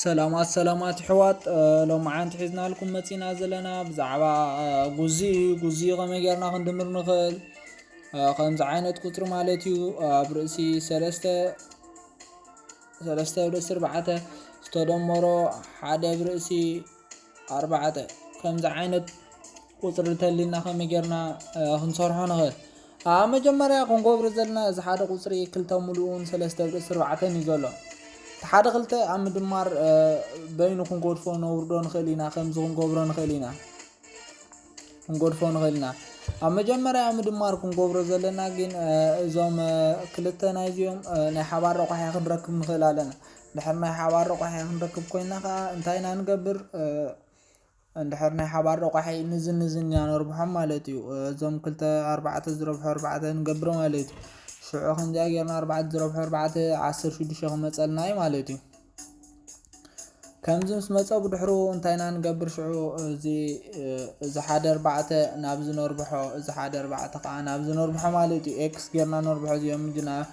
ሰላማት ሰላማት ይሕዋት ሎምዓንቲ ሒዝናልኩም መፂና ዘለና ብዛዕባ ጉዚ እዩ ጉዚ ከመይ ጌርና ክንድምር ንኽእል ከምዚ ዓይነት ቁፅሪ ማለት እዩ ኣብ ርእሲ ሰለስተ ሰለስተ ብርእሲ ኣርባዕተ ዝተደመሮ ሓደ ብርእሲ ኣርባዕተ ከምዚ ዓይነት ቁፅሪ እንተሊና ከመይ ጌርና ክንሰርሖ ንኽእል ኣብ መጀመርያ ክንገብሮ ዘለና እዚ ሓደ ቁፅሪ ክልተ ሙሉእን ሰለስተ ብርእሲ ኣርባዕተን እዩ ዘሎ እቲ ሓደ ክልተ ኣብ ምድማር በይኑ ክንጎድፎ ነውርዶ ንኽእል ኢና ከምዚ ክንገብሮ ንኽእል ኢና ክንጎድፎ ንኽእል ኢና ኣብ መጀመርያ ምድማር ክንገብሮ ዘለና ግን እዞም ክልተ ናይዚኦም ናይ ሓባር ረቋሒ ክንረክብ ንኽእል ኣለና ድሕሪ ናይ ሓባር ረቋሒ ክንረክብ ኮይና ከኣ እንታይ ኢና ንገብር እንድሕር ናይ ሓባር ረቋሒ ንዝን ንዝን ኢና ነርብሖም ማለት እዩ እዞም ክልተ ኣርባዕተ ዝረብሑ ኣርባዕተ ንገብር ማለት እዩ ሽዑ ከምዚኣ ጌርና ኣርባዕተ ዝረብሑ ኣርባዕተ ዓስር ሽዱሽተ ክመፀልና እዩ ማለት እዩ ከምዚ ምስ መፀ ብድሕሩ እንታይ ኢና ንገብር ሽዑ እዚ እዚ ሓደ ኣርባዕተ ናብ ዝነርብሖ እዚ ሓደ ኣርባዕተ ከዓ ናብ ዝነርብሖ ማለት እዩ ኤክስ ጌርና ነርብሖ እዚኦም ጅና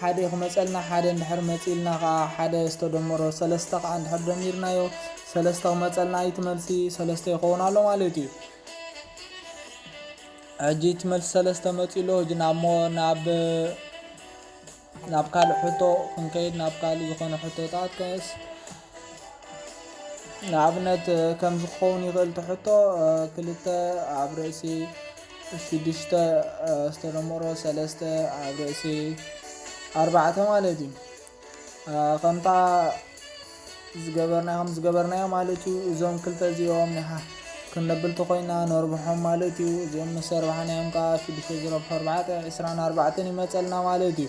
ሓደ ክመጸልና ሓደ እንድሕር መጺእልና ከኣ ሓደ ዝተደመሮ ሰለስተ ከኣ እንድሕር ደሚርናዮ ሰለስተ ክመጸልና እዩ እቲ መልሲ ሰለስተ ይኸውን ኣሎ ማለት እዩ ሕጂ እቲ መልሲ ሰለስተ መጺኡ ኣሎ ሕጂ ናብ ሞ ናብ ናብ ካልእ ሕቶ ክንከይድ ናብ ካልእ ዝኾነ ሕቶታት ከስ ንኣብነት ከምዚ ክኸውን ይኽእል እቲ ሕቶ፣ ክልተ ኣብ ርእሲ ሽዱሽተ ዝተደመሮ ሰለስተ ኣብ ርእሲ ኣርባዕተ ማለት እዩ። ከምታ ዝገበርናዮ ከም ዝገበርናዮ ማለት እዩ። እዞም ክልተ እዚኦም ክንብል ተኾይና ነርብሖም ማለት እዩ። እዚኦም ምስ ኣርባሕናዮም ከዓ ሽዱሽተ ዝረብሖ ኣርባዕተ ዕስራን ኣርባዕተን ይመፀልና ማለት እዩ።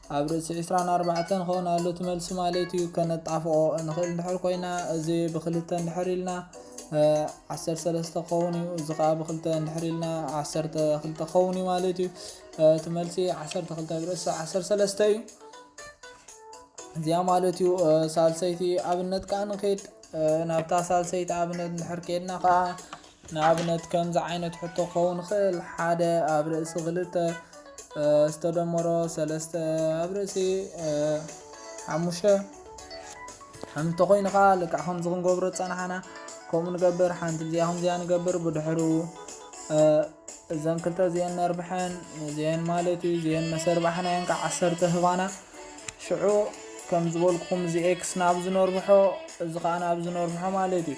ኣብ ርእሲ ዕስራን ኣርባዕተን ክኸውን ኣሎ እቲ መልሲ ማለት እዩ። ከነጣፍኦ እንኽእል እንድሕር ኮይና እዚ ብክልተ እንድሕር ኢልና ዓሰርተ ሰለስተ ክኸውን እዩ። እዚ ከዓ ብክልተ እንድሕር ኢልና ዓሰርተ ክልተ ክኸውን እዩ ማለት እዩ። እቲ መልሲ ዓሰርተ ክልተ ኣብ ርእሲ ዓሰርተ ሰለስተ እዩ። እዚኣ ማለት እዩ ሳልሰይቲ ኣብነት ከዓ ንክድ ናብታ ሳልሰይቲ ኣብነት እንድሕር ከድና ከዓ ንኣብነት ከምዚ ዓይነት ሕቶ ክኸውን ይኽእል፣ ሓደ ኣብ ርእሲ ክልተ ዝተደመሮ ሰለስተ ኣብ ርእሲ ሓሙሽተ ከም እንተኾይኑ ከኣ ልክዕ ከምዚ ክንገብሮ ዝጸናሕና ከምኡ ንገብር፣ ሓንቲ እዚኣ ከምዚኣ ንገብር፣ ብድሕሩ እዘን ክልተ እዚኤን ነርብሐን እዚኤን ማለት እዩ እዚኤን መሰርባሕናየን ከዓ ዓሰርተ ህባና ሽዑ ከም ዝበልኩኹም እዚ ኤክስ ናብ ዝነርብሖ እዚ ከዓ ናብ ዝነርብሖ ማለት እዩ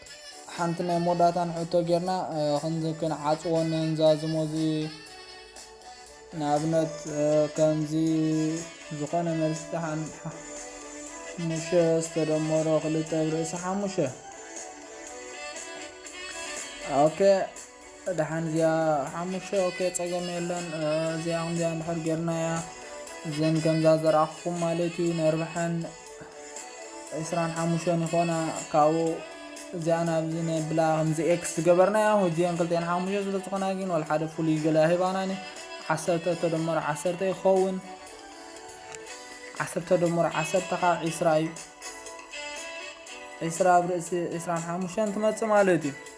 ሓንቲ ናይ ሞዳታን ሕቶ ጌርና ክንዚ ክንዓጽዎ ነንዛዝሞ እዚ ንኣብነት ከምዚ ዝኾነ መልሲ ተሓን ሙሸ ዝተደመሮ ክልተ ብርእሲ ሓሙሸ ኦኬ ደሓን እዚኣ ሓሙሽተ ኦኬ ጸገም የለን እዚኣ ከምዚኣ እንድሕር ጌርናያ እዘን ከምዛ ዘረኣኹኩም ማለት እዩ ነርብሐን ዕስራን ሓሙሽተን ይኾና ካብኡ እዚኣ ናብዚ ነብላ ከምዚ ኤክስ ዝገበርናያ ህጂን ክልተን ሓሙሽተ ስለ ዝኾና ግን ወል ሓደ ፍሉይ ገለ ሂባናኒ ዓሰርተ ተደመሮ ዓሰርተ ይኸውን ዓሰርተ ደመሮ ዓሰርተ ከዓ ዒስራ እዩ ዒስራ ኣብ ርእሲ ዒስራን ሓሙሽተን ትመፅእ ማለት እዩ